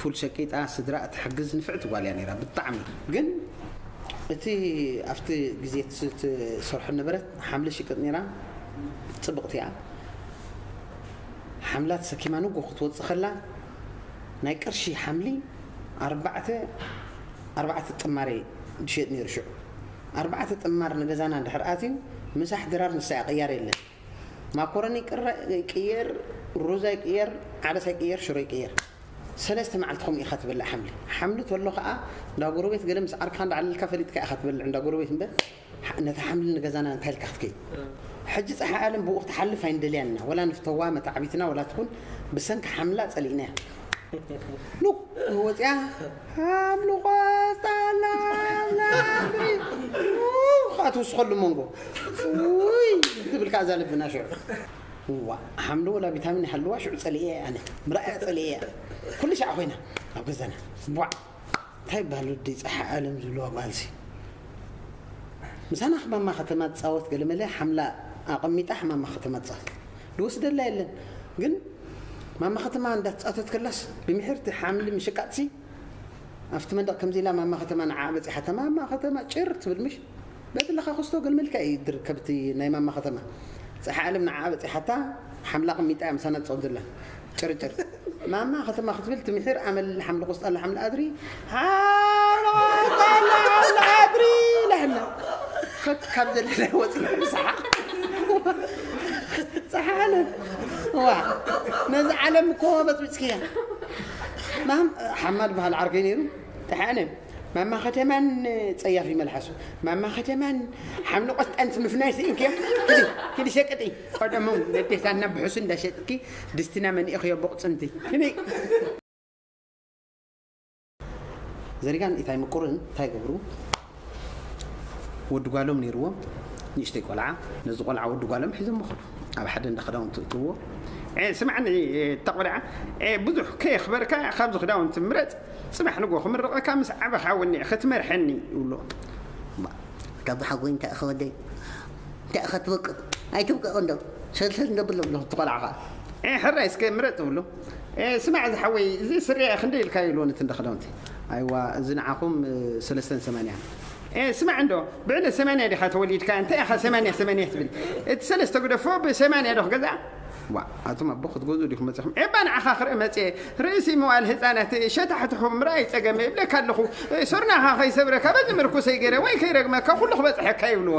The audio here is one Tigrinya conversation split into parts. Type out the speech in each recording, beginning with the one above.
ፉል ሸቂጣ ስድራኣ ትሕግዝ ንፍዕቲ ጓል እያ ነይራ ብጣዕሚ ግን እቲ ኣብቲ ግዜ ትሰርሖ ነበረት ሓምሊ ሽቅጥ ነይራ ጽብቅቲ እያ ሓምላ ተሰኪማ ንጎ ክትወጽእ ከላ ናይ ቅርሺ ሓምሊ ኣርባዕተ ኣርባዕተ ጥማር ድሸጥ ነይሩ ሽዑ ኣርባዕተ ጥማር ንገዛና እንድሕር ኣትዩ ምሳሕ ድራር ንሳ እያ ቅያር የለን ማኮረኒ ቅረ ይቅየር ሩዝ ኣይቅየር ዓደስ ኣይቅየር ሽሮ ይቅየር ሰለስተ መዓልቲ ከምኡ ኢኻ ትበልዕ ሓምሊ ሓምሊ ተሎ ከዓ እንዳ ጎረቤት ገለ ምስ ዓርክኻ እንዳዕለልካ ፈሊጥካ ኢኻ ትበልዕ እንዳ ጎረቤት እምበር ነቲ ሓምሊ ንገዛና እንታይ ኢልካ ክትከይድ ሕጂ ፀሓይ ዓለም ብኡ ክትሓልፍ ኣይንደልያን ኢና ወላ ንፍተዋ መታዕቢትና ወላ ትኹን ብሰንኪ ሓምላ ፀሊእናያ ሉክ ወፂኣ ሓምሊ ቆስጣና ናብሪ ኡኻ ትውስኸሉ መንጎ ውይ ትብል ከኣ እዛ ልብና ሽዑ እዋ ሓምሊ ወላ ቪታሚን ይሃልዋ ሽዑ ጸሊኤ ኣነ ምርኣያ ጸሊኤ ኩሉ ሻዕ ኮይና ኣብ ገዛና ቧዕ እንታይ ይበሃል ወዲ ፀሓ ዓለም ዝብለዋ ጓልሲ ምሳና ሕማማ ከተማ ትፃወት ገለመለ ሓምላ ኣቐሚጣ ሕማማ ከተማ ትፃወት ዝወስደላ የለን ግን ማማ ከተማ እንዳ ተጻተት ከላስ ብምሕርቲ ሓምሊ ምሽቃጥሲ ኣብቲ መንደቅ ከምዚ ኢላ ማማ ከተማ ንዓኣ በጺሓታ ማማ ከተማ ጭር ትብል ምሽ በቲ ለኻ ክስቶ ገልመልካ እዩ ድርከብቲ ናይ ማማ ከተማ ጸሓ ዓለም ንዓኣ በጺሓታ ሓምላ ቅሚጣ እያ ምሳና ትጸወት ዘላ ጭርጭር ማማ ከተማ ክትብል ትምሒር ኣመል ሓምሊ ቆስጣ ሓምሊ ኣድሪ ኣድሪ ላህና ካብ ዘለና ወፅና ብሰሓቅ ፀሓለ ዋ ነዚ ዓለም እኮ በፅቢፅክያ ማም ሓማል በሃል ዓርከይ ነይሩ ተሓነ ማማ ከተማን ፀያፊ መልሓሱ ማማ ከተማን ሓምሊ ቆስጣን ምፍናይ ስኢንክያ ክዲ ሸቅጢ ቀደሙን ነዴታና ብሑሱ እንዳሸጥኪ ድስትና መኒእኽዮ ቡቕፅንቲ ክንይ። ዘሪጋን ኢታይ ምቁርን ታይ ገብሩ ወዲ ጓሎም ነይርዎም ንእሽተይ ቆልዓ ነዚ ቆልዓ ወዲ ጓሎም ሒዞሞ ከዱ ኣብ ሓደ እንዳ ክዳውንቲ እትዎ ስማዕኒ እታ ቆልዓ ብዙሕ ከየኽበርካ ካብዚ ክዳውንቲ ምረፅ ፅባሕ ንጎ ክምርቐካ ምስ ዓበኻ ወኒዕኺ ትመርሐኒ ይብሎ ካብዚ ሓጎይንካ ኢኺ ወደይ እንታይ ኢኻ ትብቅቕ ኣይትብቀቕን ዶ ሰልሰል እንዶ ብሎ ብሎ እቲ ቆልዓ ኸኣ ኤህ ሕራይ እስከ ምረጽ ትብሎ ኤህ ስማዕ ዝሓወይ እዚ ስረ'የ ክንደይ ኢልካዮ ይብልዎ ነቲ እንዳ ኽዳውንቲ ኣይዋ እዚ ንዓኹም ሰለስተን ሰማንያ ኤህ ስማዕ እንዶ ብዕለት ሰማንያ ዲኻ ተወሊድካ እንታይ ኢኻ ሰማንያ ሰማንያ ትብል እቲ ሰለስተ ግደፎ ብሰማንያ ዶ ክገዝኣ ዋእ ኣቱም ኣቦ ክትገዝኡ ዲኹም መጺኹም ኤባ ንዓኻ ክርኢ መጽየ ርእሲ መዋእል ህጻናት ሸታሕትሑ ምርኣይ ጸገም እብለካ ኣለኹ ሶርናኻ ከይሰብረካ በዚ ምርኩሰይ ገይረ ወይ ከይረግመካ ኩሉ ክበጽሐካ ይብልዎ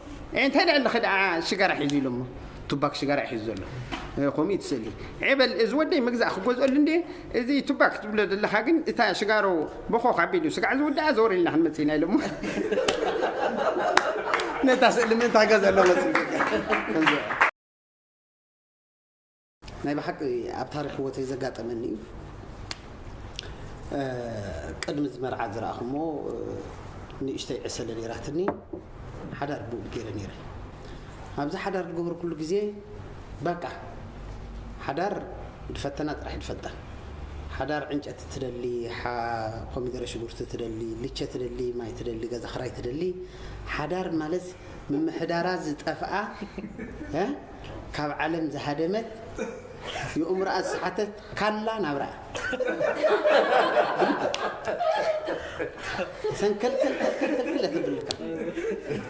ዕንታይ ልዕሊ ክድዓ ሽጋራ ሒዙ ኢሎሞ ቱባክ ሽጋራ እዩ ሒዙ ዘሎ ከምኡ እዩ ትስእሊ ዔበል እዚ ወደይ መግዛእ ክገዝኦሉ እንዴ እዚ ቱባክ ትብሎ ዘለካ ግን እታ ሽጋሮ ቦኾኽ ኣቢሉ ስጋዕ ዝውድኣ ዘወር ኢልና ክንመጽእ ኢና ኢሎሞ ነታ ስእሊ ምእንታ ገዘሎ መጽእ ናይ ብሓቂ ኣብ ታሪክ ህወተይ ዘጋጠመኒ እዩ ቅድሚ እዚ መርዓ ዝረኣኹሞ ንእሽተይ ዕሰለ ነይራትኒ ሓዳር ብኡ ገይረ ነይረ ኣብዚ ሓዳር ዝገበርኩሉ ግዜ በቃ ሓዳር ድፈተና ጥራሕ ድፈልጣ ሓዳር ዕንጨቲ ትደሊ ኮሚደረ ሽጉርቲ ትደሊ ልቸ ትደሊ ማይ ትደሊ ገዛ ክራይ ትደሊ ሓዳር ማለት ምምሕዳራ ዝጠፍኣ ካብ ዓለም ዝሃደመት የኡምሮኣ ዝሰሓተት ካላ ናብራ እያ ሰንከልከልከልከልከል እያ ተብልካ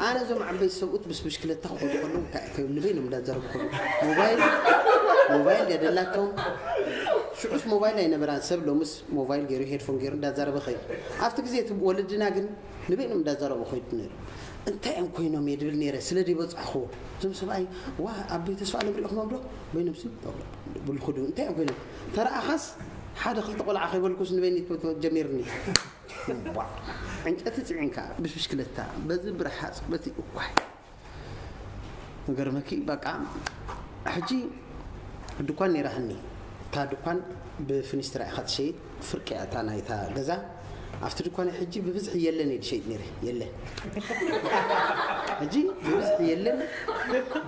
ኣነ እዞም ዓበይቲ ሰብኡት ምስ ብሽክለታ ክኸዱ ከለዉ እንታይ እዩ ከይብሉ በይኖም እንዳዘረቡ ከለዉ ሞባይል ሞባይል ድያ ደላቶም ሽዑስ ሞባይል ኣይነበራን ሰብ ሎምስ ሞባይል ገይሩ ሄድፎን ገይሩ እንዳዛረበ ኸይዱ ኣብቲ ግዜ እቲ ወለድና ግን ንበይኖም እንዳዛረቡ ኮይዱ ነይሩ እንታይ እዮም ኮይኖም እየ ድብል ነይረ ስለ ዘይበፃሕኩዎ እዞም ሰብኣይ ዋ ኣቦይ ተስፋ ኣለም ሪእኹሞም ዶ በይኖምሲ ብሉ ክዱ እንታይ እዮም ኮይኖም ተረኣኻስ ሓደ ክልተ ቆልዓ ከይበልኩስ ንበይኒ ጀሚርኒ ዕንጨቲ ፅዒንካ ብሽክለታ በዚ ብረሃፅ በቲ እኳ ንገርመኪ በቃ ሕጂ ድኳን ነይራትኒ እታ ድኳን ብፍኒስትራ ኢኻ ትሸይጥ ፍርቂ እያ እታ ናይታ ገዛ ኣብቲ ድኳነይ ሕጂ ብብዝሒ የለን እየ ድሸይጥ ነይረ የለን ሕጂ ብብዝሒ የለን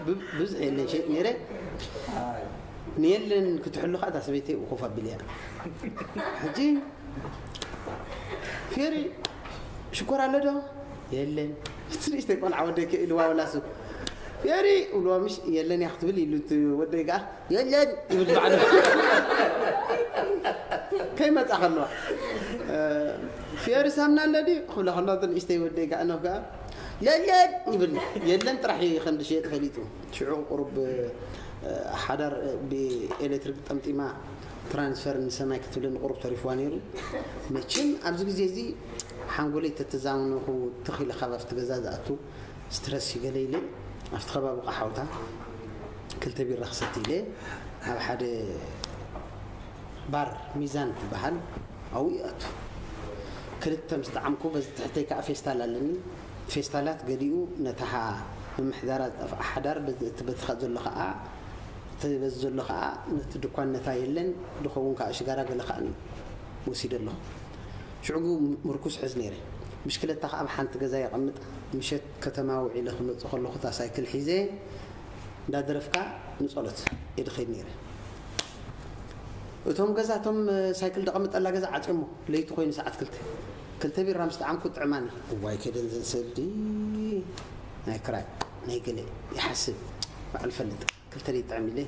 ብብዝሒ የለን ሸይጥ ነይረ ንየለን ክትሕሉ ከዓ እታ ሰበይተይ ኮፍ ኣቢል እያ ሕጂ ፌሪ ሽኮር ኣሎ ዶ የለን እቲ ንእሽተይ ቆልዓ ወደይ ከይኢልዋ ወላ ሱቅ ፌሪ እብልዎ ምሽ የለን እያ ክትብል ኢሉ እቲ ወደይ ከኣ የለን ይብል ባዕሉ ከይመጻ ከለዋ ፌሪ ሳምና ኣሎ ድዩ ክብላ ከለዋ እቲ ንእሽተይ ወደይ ከኣ ኖህ ከኣ የለን ይብል የለን ጥራሕ እዩ ከም ዝሸየጥ ፈሊጡ ሽዑ ቁሩብ ሓዳር ብኤሌክትሪክ ጠምጢማ ትራንስፈር ንሰማይ ክትብለኒ ቁሩብ ተሪፍዋ ነይሩ መቸም ኣብዚ ግዜ እዚ ሓንጎለይ ተተዛምነኹ ትኽ ኢለ ካብ ኣብቲ ገዛ ዝኣቱ ስትረስ ይገለ ኢለ ኣብቲ ከባቢ ቃሓውታ ክልተ ቢራ ክሰቲ ኢለ ኣብ ሓደ ባር ሚዛን ትበሃል ኣብኡ ይኣቱ ክልተ ምስ ጠዓምኩ በዚ ትሕተይ ከዓ ፌስታል ኣለኒ ፌስታላት ገሊኡ ነታሓ ምምሕዳራ ዝጠፍኣ ሓዳር በዚ እቲ በትኻ ዘሎ ከዓ እቲ በዚ ዘሎ ከኣ ነቲ ድኳን ነታ የለን ድኸውን ከኣ ሽጋራ ገለ ከኣ ወሲደ ኣለኹ። ሽዑ ምርኩስ እሕዝ ነይረ። ብሽክለታ ከኣ ኣብ ሓንቲ ገዛ የቐምጣ። ምሸት ከተማ ውዒለ ክመጽእ ከለኹ እታ ሳይክል ሒዘ እንዳ ደረፍካ ንጸሎት እየ ድኸይድ ነይረ። እቶም ገዛ እቶም ሳይክል ደቐምጠላ ገዛ ዓጽዮሞ። ለይቲ ኮይኑ ሰዓት ክልተ። ክልተ ቢራ ምስ ጠዓምኩ ጥዕማኒ። እዋይ ከደንዘን ሰልዲ ናይ ክራይ። ናይ ገለ ይሓስብ ባዕሉ ይፈልጥ ክልተ ደይጥዕም ኢለ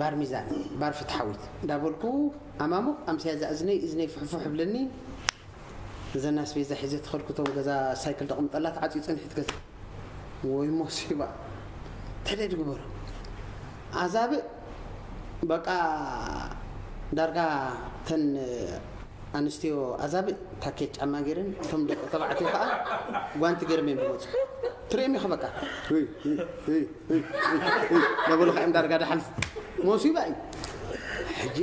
ባር ሚዛን ባር ፍትሓዊት እንዳበልኩ ኣማሙቕ ኣምስያ እዛ እዝነይ እዝነይ ፍሕፉሕ እብለኒ እዘን ኣስቤዛ ሒዘ ተኸድኩ እቶም ገዛ ሳይክል ደቕምጠላ ተዓፅዩ ፀንሒት ገዛ ወይ ሞሲባ ተደድ ግበሩ ኣዛብእ በቃ ዳርጋ ተን ኣንስትዮ ኣዛብእ ታኬት ጫማ ጌረን እቶም ደቂ ተባዕትዮ ከኣ ጓንቲ ጌሮም እዮም ዝመጹ ትርእዮም ኢኻ በቃ እይ እይ እይ እይ ነበሉኻ እዮም ዳርጋ ዳሓን ሞሲባ እዩ ሕጂ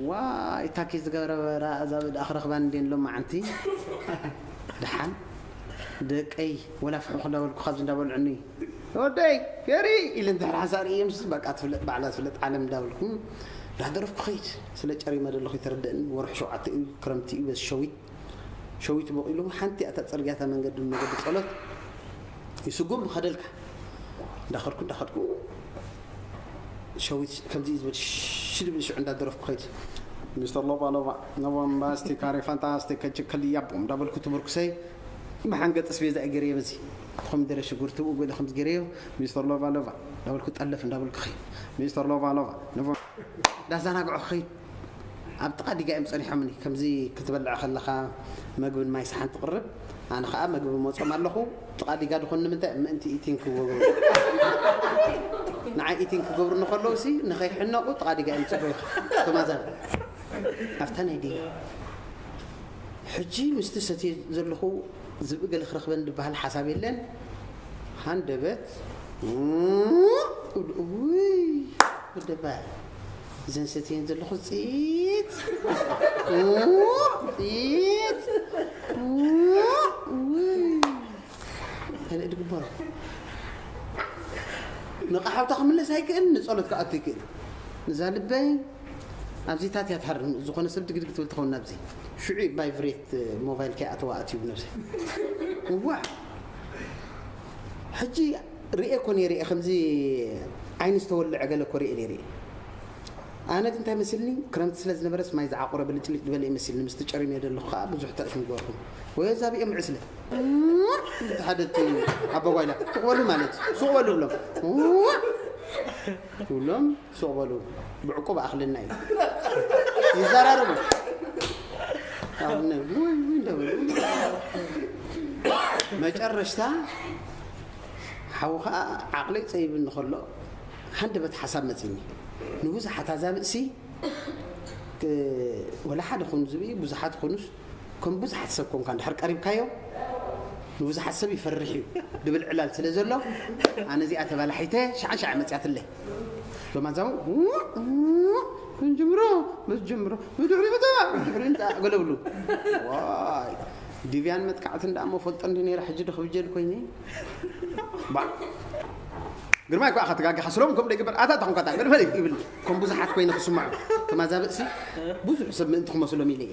ዋይ ታኬት ዝገበረበራ ኣዛብእ ደኣ ክረኽባን እንድየን ሎማዓንቲ ደሓን ደቀይ ወላ ፍሑ ክዳበልኩ ካብዚ እንዳበልዑኒ ወደይ ፌሪ ኢለ እንድሕር ሓንሳእ ርእየምስ በቃ ትፍለጥ ባዕላ ትፍለጥ ዓለም እንዳበልኩ እንዳሃደረፍኩ ክኸይድ ስለ ጨሪመ ደለኹ ይተረደእኒ ወርሒ ሸውዓተ እዩ ክረምቲ እዩ በዚ ሸዊት ሸዊት ቦቂሉ ሓንቲ ኣታ ጽርግያ እታ መንገዲ መገዲ ጸሎት ይስጉም ኸደልካ እንዳኸድኩ እንዳኸድኩ ሸዊት ከምዚ ዝብል ሽድብል ሽዑ እንዳደረፍኩ ኸይድ ሚስተር ሎባ ሎባ ኖቦምባስቲ ካሬ ፋንታስቲክ ከጅከልያ ቦም እንዳበልኩ ትምርኩሰይ ብሓንገጥ ስቤዛ እገርየ በዚ ኮሚደረ ሽጉርቲ እው ገለ ከምዚ ገይረ እዮ ሚስተር ሎቫ ሎቫ እንዳበልኩ ጠለፍ እንዳበልኩ ክኸይድ ሚስተር ሎቫ ሎቫ ነቦ እንዳዛናግዑ ክኸይድ ኣብ ጥቃ ዲጋ እዮም ጸኒሖምኒ ከምዚ ክትበልዕ ከለኻ መግብን ማይ ሰሓን ትቕርብ ኣነ ከዓ መግቢ መጾም ኣለኹ ጥቃ ዲጋ ድኾን ንምንታይ ምእንቲ ኢቲን ክገብሩ ንዓይ ኢቲን ክገብሩ ንከለዉ ሲ ንኸይሕነቑ ጥቃ ዲጋ እዮም ጽበዩ ተማዛብ ኣብታ ናይ ዲጋ ሕጂ ምስቲ ሰትየ ዘለኹ ዝብኢ ገለ ክረኽበኒ ድበሃል ሓሳብ የለን ሃንደበት ክብሉ እውይ ወደባይ እዘን ሰትየን ዘለኹ ፅይት ፅይት እውይ ካልእ ድግበሮ ንቕሓውታ ክምለስ ኣይክእል ንፀሎት ክኣቱ ይክእል እዛ ልበይ ኣብዚታት እያ ትሃርም ዝኾነ ሰብ ድግድግ ትብል ትኸውን ናብዚ ሽዑ ቫይቭሬት ሞባይል ከይኣተዋ ኣትዩ ነብሰይ ዋእ ሕጂ ሪኤ እኮ ነይረ እየ ከምዚ ዓይኒ ዝተወልዐ ገለ እኮ ሪኤ ነይረ እየ ኣነ ግን እንታይ መስልኒ ክረምቲ ስለ ዝነበረስ ማይ ዝዓቆረ ብልጭልጭ ዝበለ እዩ መስልኒ ምስቲ ጨሪመ ዘለኹ ከዓ ብዙሕ ተርፍ ንገርኩም ወይ ዛብኦም ዕስለ ሓደ ኣቦጓይላ ትቕበሉ ማለት እዩ ስቕበሉ ብሎም ብሎም ሱቕ በሉ ብዕቁብ ኣኽልና እዩ ይዘራረቡ መጨረሽታ ሓው ከዓ ዓቕለይ ፀይብኒ ከሎ ሃንደበት ሓሳብ መፅኒ ንብዙሓት ኣዛብእሲ ወላ ሓደ ኮይኑ ዝብኢ ብዙሓት ኮኑስ ከም ብዙሓት ሰብ ኮንካ እንድሕር ቀሪብካዮ ንብዙሓት ሰብ ይፈርሕ እዩ ድብል ዕላል ስለ ዘሎ ኣነ እዚኣ ተባላሒተ ሸዓ ሸዓ መፅያትለይ ሎማዛው ምንጅምሮ መስጅምሮ ብድሕሪ ብታ ብድሕሪ እንታ ገለብሉ ዋይ ዲቪያን መጥቃዕቲ እንዳ እሞ ፈልጦ እንዲ ነይረ ሕጂ ዶ ክብጀል ኮይነ ባ ግርማይ ኳ ከተጋግሕ ስሎም ከም ደግበር ኣታ ተኾንካታ ገድፈል ይብል ከም ብዙሓት ኮይነ ክስምዖ ተማዛብእሲ ብዙሕ ሰብ ምእንቲ ክመስሎም ኢለ እየ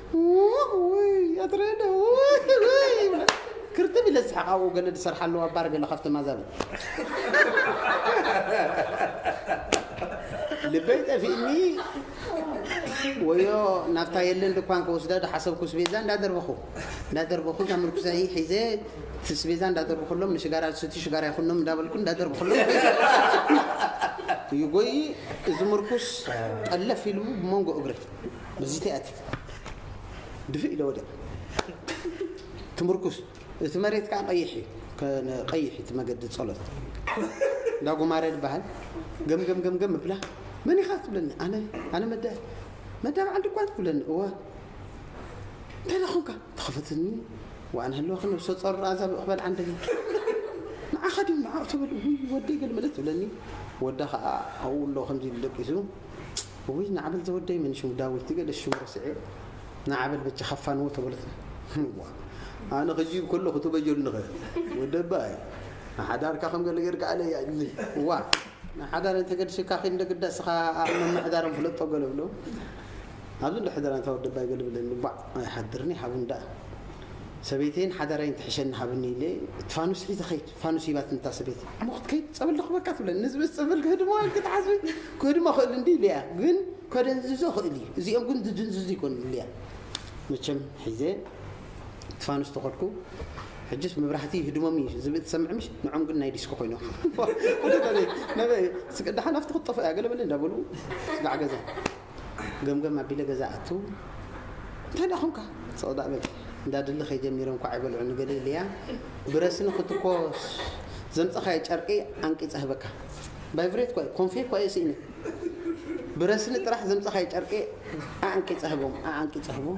ክርትም ኢለ ዝስሓቕ ኣብኡ ገለ ዝሰርሓ ኣለዋ ባር ገለ ካብተን ኣዛብእ ልበይ ጠፊእኒ ወዮ ናብታ የለን ድኳን ከወስዳ ዝሓሰብኩ ስቤዛ እንዳደርበኹ እንዳደርበኹ እዛ ምርኩሰይ ሒዘ ስቤዛ እንዳደርበኹሎም ንሽጋራ ዝስቲ ሽጋራ ይኹኖም እንዳበልኩ እንዳደርበኹሎም ይጎይ እዚ ምርኩስ ጠለፍ ኢሉ ብመንጎ እግሪ ብዚ ቲኣቲክ ድፍእ ኢለ ወዲቀ ትምርኩስ እቲ መሬት ከዓ ቀይሕ እዩ ቀይሕ እቲ መገዲ ጸሎት እንዳ ጉማረ ዝበሃል ገምገም ገምገም እብላ መን ኢኻ ትብለኒ ኣነ ኣነ መዳ መዳ በዓል ድኳን ትብለኒ እወ እንታይ ዳ ኾንካ ተኸፈትኒ ዋን ህልወኺ ነብሰ ጾር ኣዛ ብእኽበል ዓንደኺ ንዓኻ ድዩ ንዓኡ ትብል ወደይ ገለ መለት ትብለኒ ወዳ ከዓ ኣብኡ ኣሎ ከምዚ ኢሉ ደቂሱ እውይ ናዓበል ዘወደይ መን ሽሙ ዳዊት ድገደስ ሽሙ ረሲዐዮ ናዓበል በጃ ካፋንዎ ተበለት እዋ ኣነ ክጂ ከለኹ ተበጀሉኸ ወደባይ ንሓዳርካ ከም ገለ ገርካ ኣለያ ግዜ እዋ ንሓዳር እንተገድሽካ ኪድ እንደግዳ ስኻ ኣብ መምሕዳሮም ፍለጦ ገለ ብሎ ኣብዚ እንዶ ሕደራ እንታ ወደባይ ገለ ብለኒ ባዕ ኣይሓድርኒ ሓቡ እንዳ ሰበይተይን ሓዳራይን ትሕሸኒ ሃብኒ ኢለ እቲ ፋኑስ ሒዘ ኸይድ ፋኑስ ሂባትኒ እታ ሰበይቲ እሞ ክትከይድ ጸበል ክበካ ትብለኒ ንዝብስ ጸበል ክህድሞ ኢልኪ ትሓስቢ ክህድሞ ክእል እንዲ ኢለያ ግን ከደንዝዞ ክእል እዩ እዚኦም ግን ዝድንዝዙ ይኮኑ ኢለያ መቸም ሒዘ እቲ ፋኑስ ተኸድኩ ሕጅስ መብራህቲ ይህድሞም እዩ ዝብእ ትሰምዕ ምሽ ንዖም ግን ናይ ዲስኮ ኮይኖም ነበይ ስቅዳሓን ኣብቲ ክትጠፍእ እያ ገለበለ እንዳበሉ ስጋዕ ገዛ ገምገም ኣቢለ ገዛ ኣቱ እንታይ ደኣ ኮንካ ስቕ ደኣ በል እንዳ ድል ከይ ጀሚረ እንኳዕ ኣይበልዑኒ ገለ ኢለያ ብረስኒ ክትኮስ ዘምጸኻዮ ጨርቂ ኣንቂጸ ህበካ ቫይብሬት ኳ ኮንፌ ኳ ስኢነ ብረስኒ ጥራሕ ዘምጸኻዮ ጨርቂ ኣንቂጸ ህቦም ኣንቂጸ ህቦም